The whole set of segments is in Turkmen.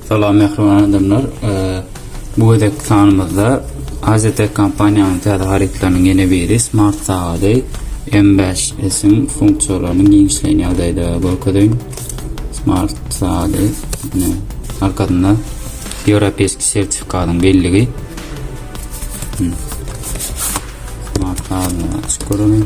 Salam mähriban adamlar. Bu gezek sanymyzda AZT kompaniýanyň täze harytlarynyň ýene biri smart sagady M5S-iň funksiýalaryny giňişleýin ýagdaýda görkezeýin. Smart sagady ine arkasynda ýewropeýski sertifikatyň belligi. Smart sagady açyk görelim.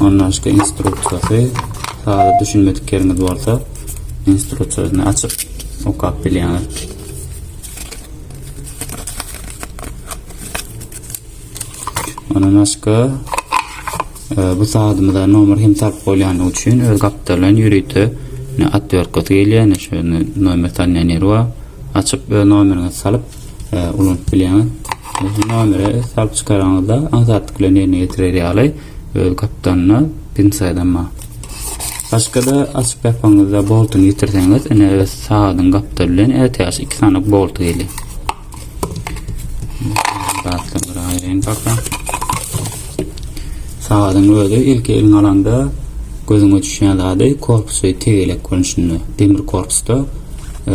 Ondanşka instruksiýasy sada düşünmedik ýeriňiz bolsa instruksiýasyny açyp okap bilýäňiz. Ondan başka e, bu saatimize nomer hem sarp bolýany üçin öz gapdalan ýörite atýorkasy gelýär. Şöyle nomer tanýan ýeri bar. Açyp öz nomeriňizi salyp ulanyp bilýän. Bu nomere salyp çykaraňyzda aňsatlyk bilen ýerine ýetirer ýaly öz gapdanyna pinsadan bar. Başga-da açyp ýapanyňyzda boltuny ýitirseňiz, ine öz sagadyň gapdaly bilen ätiýaç iki sany bolt gelýär. Gatladyr aýryň baka. Sagadyň özi ilki eliň alanda gözüňe düşýän zady korpusy tegelek görnüşinde. Demir korpusda e,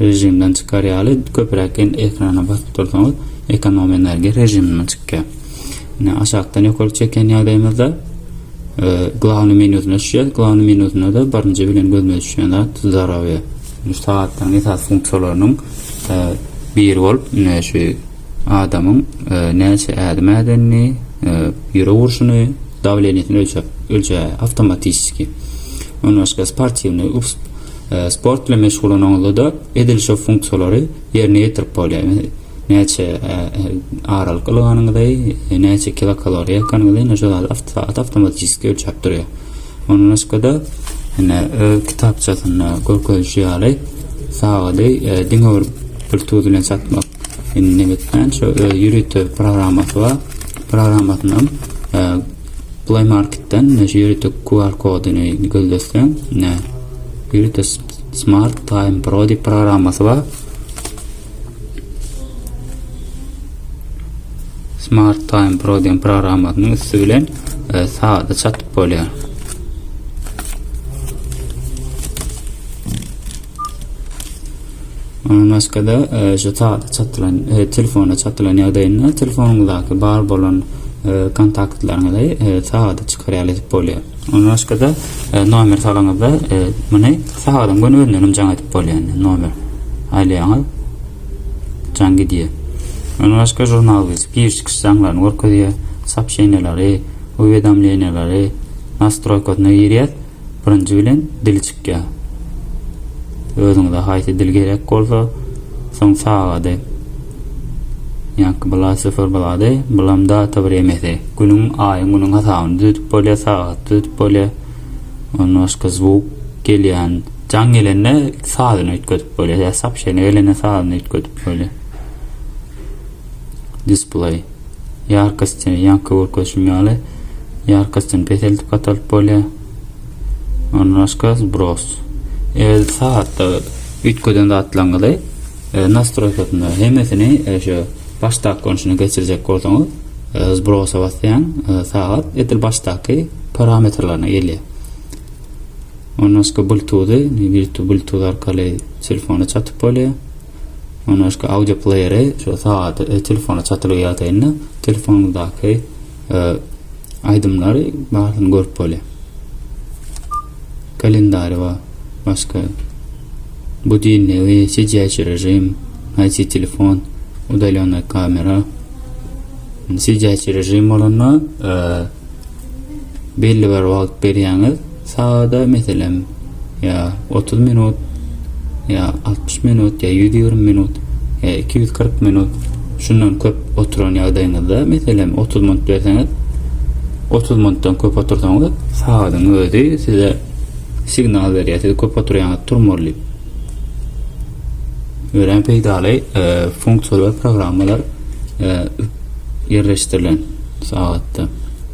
rejimden çykar ýaly köpräk ekrana basyp dursaňyz ekonom energiýa režiminden çykýar. Ine aşakdan ýokary çeken ýagdaýymyzda e, glavny menyusyna düşýär. Glavny menyusynda da birinji bilen gözüme düşýän zat zdarowýe. Şu sagatlaryň esas funksiýalarynyň e, biri bolup, ine şu Adamyň näçe ädim ädenini, ýürek urşuny, dawleniýesini ölçäp ölçäýär awtomatişski. Ondan başga sportiwnyý sport bilen meşgullananyňyzda-da edil şo funksiýalary ýerine ýetirip bolýar. Näçe aralyk ylganyňyzy, näçe kilokaloriýa ýakanyňyzy ine şo zady awtomatişski ölçäp durýar. Ondan başga-da ine öz kitapçasynda görkezişi ýaly sagady diňe bir Bluetooth bilen çatmak Indi nebitden şu öz ýörite programmasy bar. Programmasyny hem Play Marketden şu ýörite QR kodyny gözleseň, ne ýörite Smart Time Pro diýip programmasy bar. Smart Time Pro diýen programmasynyň üsti bilen e, saada çatyp bolýar. Ondan başga-da, şu sada çatylan, telefona çatylan ýagdaýynda telefonyňyzdaky bar bolan kontaktlaryňyzy sada çykarýar edip bolýar. Ondan başga-da, nomer salanyňyzda muny sadaň göni özünden hem jaň edip bolýar. Nomer aýlaýaňyz, jaň gidýär. Ondan başga žurnal biz giriş-çykyş jaňlaryny görkezýär, soobşeniýalary, uwedomleniýalary, nastroýkasyna girýär. Birinji bilen dil çykýar. Özüňize haýsy dil gerek bolsa, soň sagady. Ýaňky bula syfyr bulady, bulam data bir emesi. Günüň, aýyň, günüň hasabyny düzedip bolýar, sagaty düzedip bolýar. Ondan başga zwuk gelýän, jaň gelende sazyny üýtgedip bolýar. Ýa sopşeniýa gelende sazyny üýtgedip bolýar. Display. Ýarkasty, ýaňky görkezişim ýaly, ýarkastyny peseldip gatalyp bolýar. Ondan başga zbros. Eger sagatda üýtgeden zatlaryňyzy e, nastroýkasynda hemmesini e, şu başdaky görnüşine geçirjek bolsaňyz, e, zbrosa basýaň, sagat edil başdaky parametrlerine gelýär. Ondan başga Bluetooth-y, Bluetooth arkaly telefona çatyp bolýar. Mundan başga audio playeri şu sagady öz telefonyna çatylygy ýagdaýynda telefonyňyzdaky aýdymlary barsyny görüp bolýar. Kalendary we başga budilnigi, sijäýşi režim, haýsy telefon, udalenna kamera. Sijäýşi režim bolanda belli bir wagt berýäňiz. Sagada, meselem, ýa otuz minut, ýa altmyş minut, ýa ýüz ýigrimi minut, ýa iki ýüz kyrk minut, şundan köp oturan ýagdaýyňyzda, meselem, otuz minut berseňiz, otuz minutdan köp otursaňyz, sagadyň özi size signal berýär, siz köp oturýaňyz, turmaly diýip. Örän peýdaly e, funksiýalar, programmalar e, ýerleşdirilen sagatda.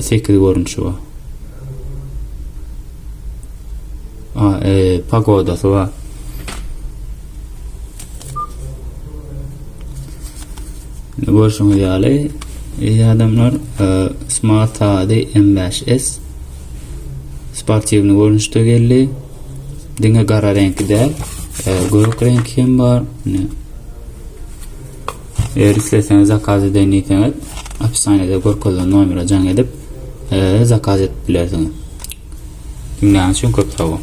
sekiz görnüşi bar. A, e, pagodasy bar. Görüşüňiz ýaly, eý adamlar, e, Smart HD M5S sportiwny görnüşde geldi. Diňe gara reňki däl, e, gök reňki hem bar. Ne? Eger isleseňiz zakaz edeýin diýseňiz opisaniýada görkezilen nomere jaň edip zakaz edip bilersiňiz. Diňläniň üçin köp sag boluň.